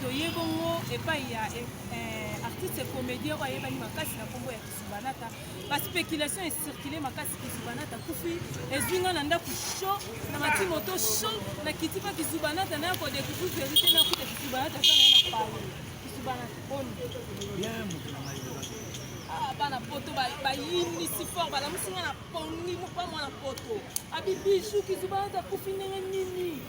toye bongo epai ya eh, artiste comédien oyo ayebani makasi na nkombo ya kisubanata baspéculation ecircule makasi kisubanata kufi ezwi ngai na ndako sho na mati moto sho na kiti mpa kisubanata naya kodecouvrir verité nakuta kisubanata eza naye na pale kisubanata boni ah, bana poto bayinisi fort balamusi ngai na pongi mokwa mwana poto abibiju kisubanata kufi ndenge nini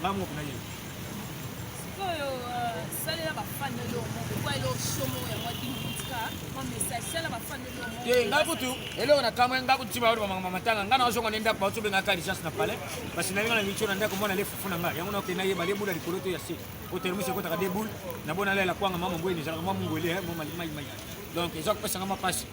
Nga moko na yeba. Sikoyo euh, salela ba fan na yo moko kwa elo shomo ya mwa kimutika mwa message salela ba fan na yo moko. Te nga kutu elo na kamwe nga kutu ba ba mama matanga nga na zonga nenda kwa tsobe nga ka richesse na palais parce que na nga na micho na ndako mona le fufu na nga yango na ke na yeba le bula likolo to ya se o termuse ko taka de boule na bona lela kwanga mama mbwe ni zala mama mbwe le mama mai mai donc ezok pesa nga mapasi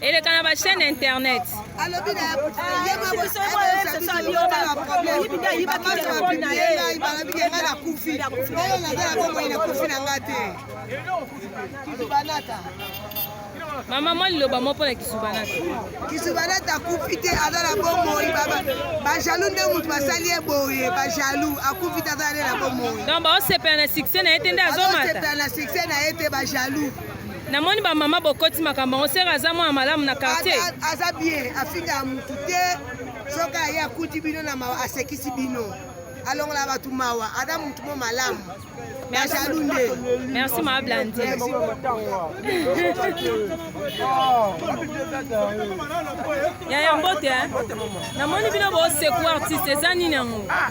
eleka na bachaîne internet alobi na ye nakufi nayo naza na bomoi nakufi na nga te kisubanata mama mwa liloba mo mpo na kisubanata kisubanata akufi te aza na bomoi bajalou nde moto basali ye boye bajalou akufi te aza nde na bomoi donc baosepela na succès na ye te nde azomata na succès na ye te bajalou namoni bamama bokoti makambo yango sere aza mwana malamu na quartier aza bien afingaka motu te soki aye akuti bino na mawa asekisi bino alongola bato mawa aza motu mo malamu najalu nde merci maa blandi yaya mbote namoni bino bosekua artiste eza nini yango ah,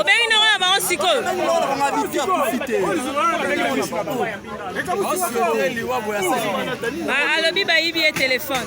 obengi ndoko na bango sikoyo Ba- alobi bayibi ye telefone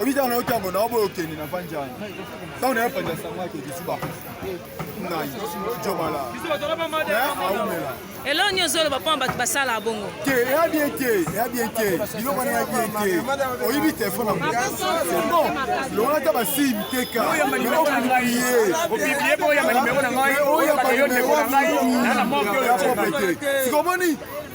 obi ntango nayoki yango na oboyo okende na vandi yango ntango nayo panja sango ake kisuba ngai jobala aumela eloko nyonso oloba mpo na bato basalaka bongo te eya bien te eya bien te biloko wana eya bien te oyibi telefone yango longola ata basii biteka oyo ya banimero na ngai sikoyo omoni